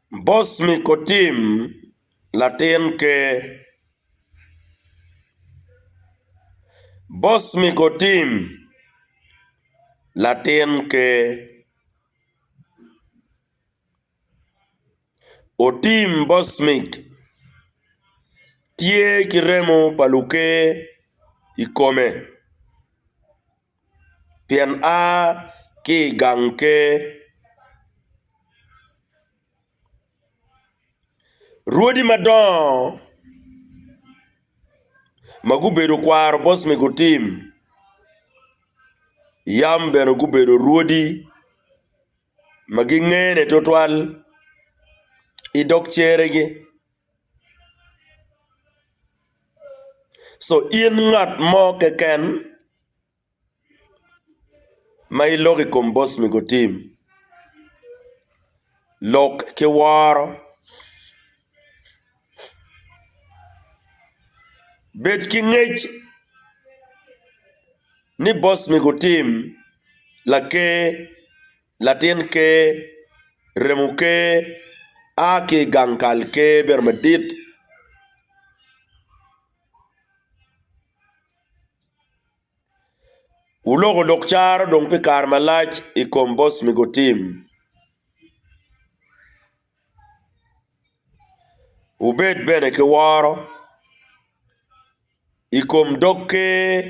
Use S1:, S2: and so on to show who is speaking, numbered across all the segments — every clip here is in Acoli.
S1: Bos mi kotim latin ker. Bos mi kotim latin ker. Otim Bosmic tye ki remo pa luker i kome. pien a ki i gang ker. Rwodi madongo ma gubedo kwaro bot ma gutim yam bene gubedo rwodi ma gingene tutwal i dog ceregi. Co in ngat mo keken ma iloko i kom boss mego tim lok ki woro bed ki ngec ni boss mego tim laker. Latin Ker, Remo Ker, a ki i gang kal Ker bedo madit. Wuloko lok caro dong pi kare malac i kom Bosmiko Tim. Wubed bene ki woro i kom dog Ker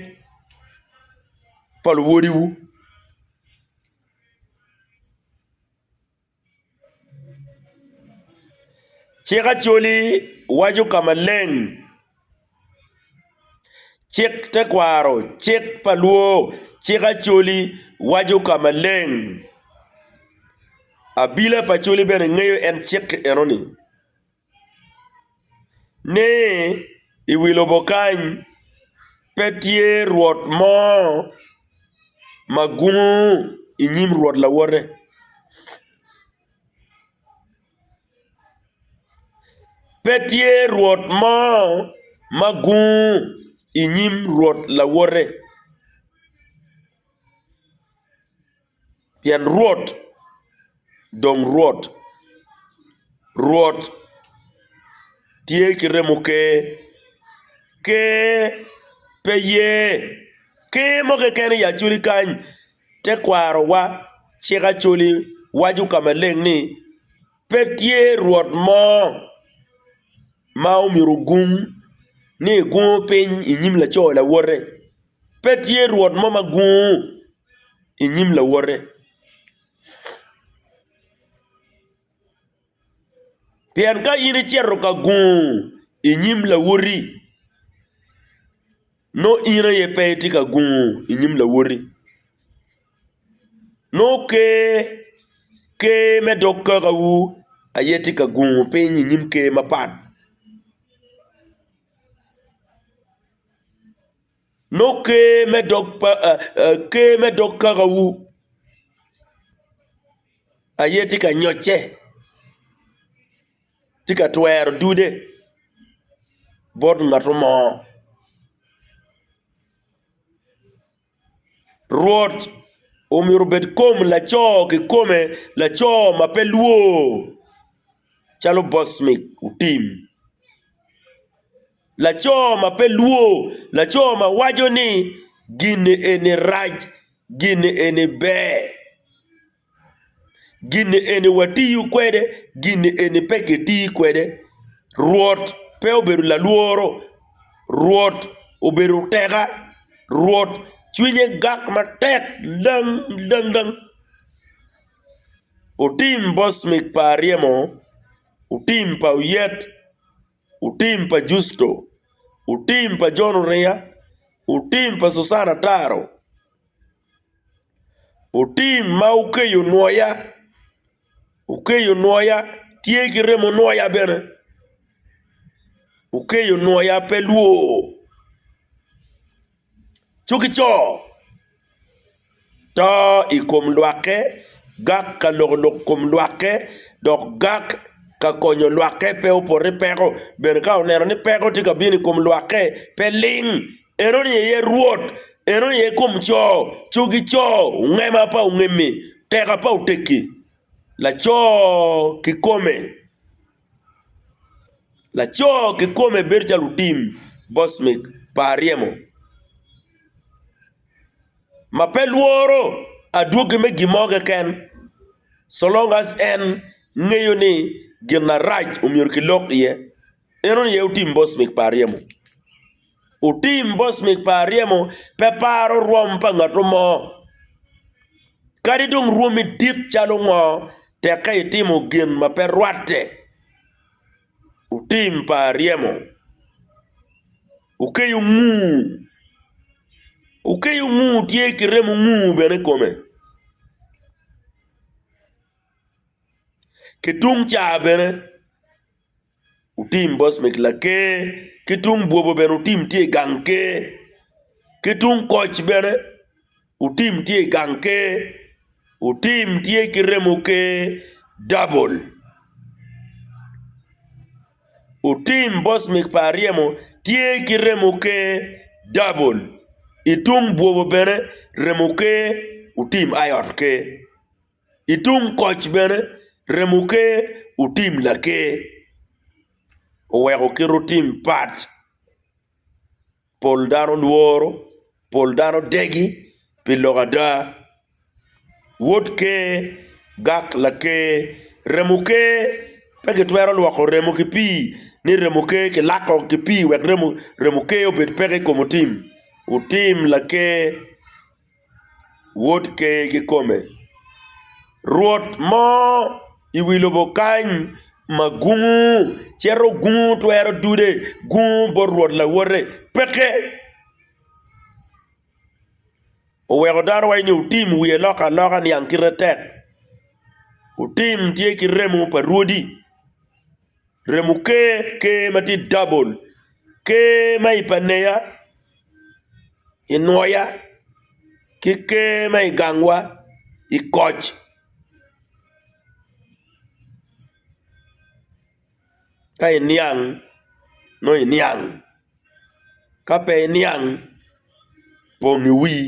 S1: pa luwodiwu. Cik Acholi waco ka maleng. Cik tekwaro, cik pa lwor, cik Acholi waco ka maleng. Abila pa Acholi bene ngeyo en cik enoni ni i wi lobo kany pe tye rwot mo ma gungo i nyim rwot lawote. Pe tye rwot mo ma gung i nyim Rwot lawote, pien Rwot dong Rwot, Rwot tye ki remo ker, ker pe ye. Ker mo keken aye acwali kany, Tekwarowa cik Acholi waco ka maleng ni, Pe tye rwot mo ma omyero ogung ni egungo piny i nyim laco lawote. Pe tye rwot mo ma gungo i nyim lawote. Pien ka in icito ka gungu i nyim lawoti, nongo in aye pe itye ka gungu i nyim lawoti. Nongo Ker me dog kakawu aye tye ka gungu piny i nyim ker mapat. Nongo ker me dog kakawu aye tye ka nyocce, tye ka twero dude bot ngat mo. Rwot omyero obed kom laco kikome, laco ma pe lwor calo bosmi otim. Laco ma pe lwo, laco ma waco ni gin eni rac, gin eni ber, gin eni watiyo kwede, gin eni pe kitiyo kwede. Rwot pe obedo lalworo, Rwot obedo teka, Rwot cwinye gak matek dang dang dang. Otim bosmik pa aryemo, otim pa oyet, Otim pa Justo, otim pa Jon Oriya, otim pa Susan Ataro, otim ma okeyo nwoya, okeyo nwoya tye ki remo nwoya bene, okeyo nwoya pe lwor. Cukico, to i kom lwakke, gak ka loko lok kom lwakke, dok gak ka konyo lwakke pe opot ni peko, bene ka oneno ni peko tye ka bino i kom lwakke, pe ling. Enoni aye Rwot, enoni aye kom co, cukico, ongema pa ongemi, teka pa oteki, laco kikome. Laco kikome bedo calo otim boss me par ryemo ma pe lworo adwogi me gin mo keken so long as en ngeyo ni gin marac myero kilok iye, en aye otim boss me par ryemo. otim bocmik pa aryemo pe paro rwom pa ngato mo. Kadi dong rwomi dit calo ngo, tek ka itimo gin ma pe rwatte. Otim pa aryemo okeyo ngur, okeyo ngur tye ki remo ngur bene i kome, ki tung ca bene. Otim bos me laker, ki tung bwobo bene otim tye i gang ker, ki tung koc bene otim tye i gang ker, otim tye ki remo ker dabol, otim bos me pa aryemo tye ki remo ker dabol, itung bwobo bene remo ker otim iot ker. I tung koc bene, remo ker otim laker oweko kite otim pat pol dano lworo pol dano degi pi lok ada wod ker gak laker remo ker pe kitwero lwoko remo ki pii ni remo ker kilako ki pii wek remo ker obed peke i kom otim otim laker. Wod Ker kikome, Rwot mo i wi lobo kany ma gungu cito gungu twero dude, gungu bot Rwot lawote peke. Oweko dano waco ni otim wiye lok aloka niang kite tek, otim tye ki remo pa rwodi. Remo ker, ker ma tye double, ker ma i paneya, i nwoya ki ker ma i gangwa i koc. Ka iniang nongo iniang ka pe iniang pong iwii.